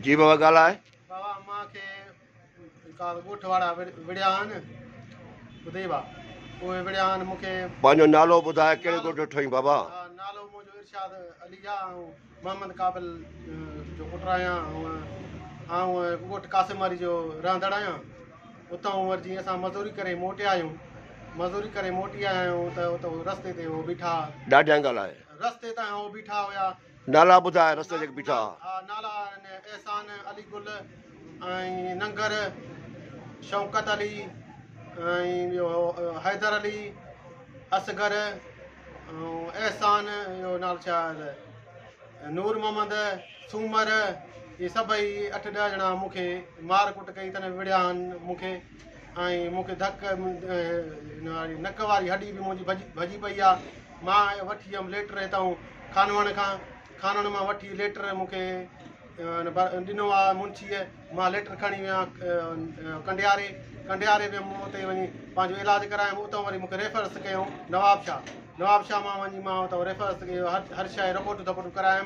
جي بابا ڳالهاء. بابا امان کي ڪا ڳوٺ وارا وڙهيا آهن ٻڌئي ڀا اهي وڙهيا آهن مون کي. پنهنجو نالو ٻڌاء ڪهڙي ڳوٺ جو ٺهين بابا. ها نالو منهنجو ارشاد علي آ آئون محمد قابل جو پٽ آهيان آئون ڳوٺ قاسم واري جو رهندڙ آهيان اتان وري جيئن اسان مزوري ڪري موٽي آيون مزوري ڪري موٽي آيا آهيون ته اتو رستي تي هو بيٺا. ڏاڍيان ڳالهاء. رستي تان هو بيٺا هيا. نالا ٻڌاء رستي جڳ بيٺا. ها نالا آهن احسان علي گل ۽ ننگر شوڪت علي ۽ ٻيو حيدر علي اصغر ۽ احسان جو نالو ڇا آهي ته نور محمد سومر هي سڀئي اٺ ڏهه ڄڻا مون کي مار ڪٽ ڪئي تن وڙهيا آهن مون کي ۽ مون کي ڌڪ ڏنو آهي. نڪ واري هڏي به منهنجي ڀڄي پئي آهي. مان وٺي ويم ليٽر هتائون خانوڻ کان. خانوڻ مان وٺي ليٽر مون کي ڏنو آهي منشيء. مان ليٽر کڻي ويو آهيان ڪنڊياري. ڪنڊياري ويم مون اتي وڃي پنهنجو علاج ڪرايم. اتان وري مون کي ريفرس ڪيائون نوابشاهه. نوابشاهه مان وڃي مان اتان ريفرس ڪيو. هر شيء جي رپورٽون ڌپورٽون ڪرايم.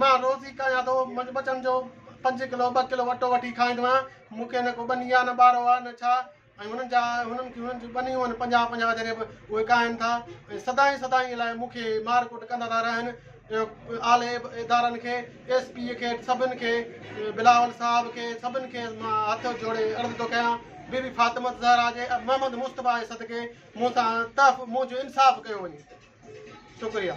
مان روز ئي ڪريان ٿو ٻچن جو پنج ڪلو ٻه ڪلو اٽو وٺي کائيندو آهيان مون کي نه ڪو ٻني آهي نه ٻارو آهي نه ڇا ۽ هنن جا هنن کي هنن جون ٻنيون آهن پنجاهه پنجاهه جڏهن به اهي ڪاهن ٿا ۽ سدائين سدائين لاء مون کي مار ڪٽ ڪندا ٿا رهن اعلي ادارن کي ايس پي کي سڀن کي بلاول صاحب کي سڀن کي مان هٿ جوڙي عرض ٿو ڪيان بي بي فاطمه زهرا جي محمد مصطفيٰ جي صدقي مون سان تحف مون جو انصاف ڪيو وڃي شڪريا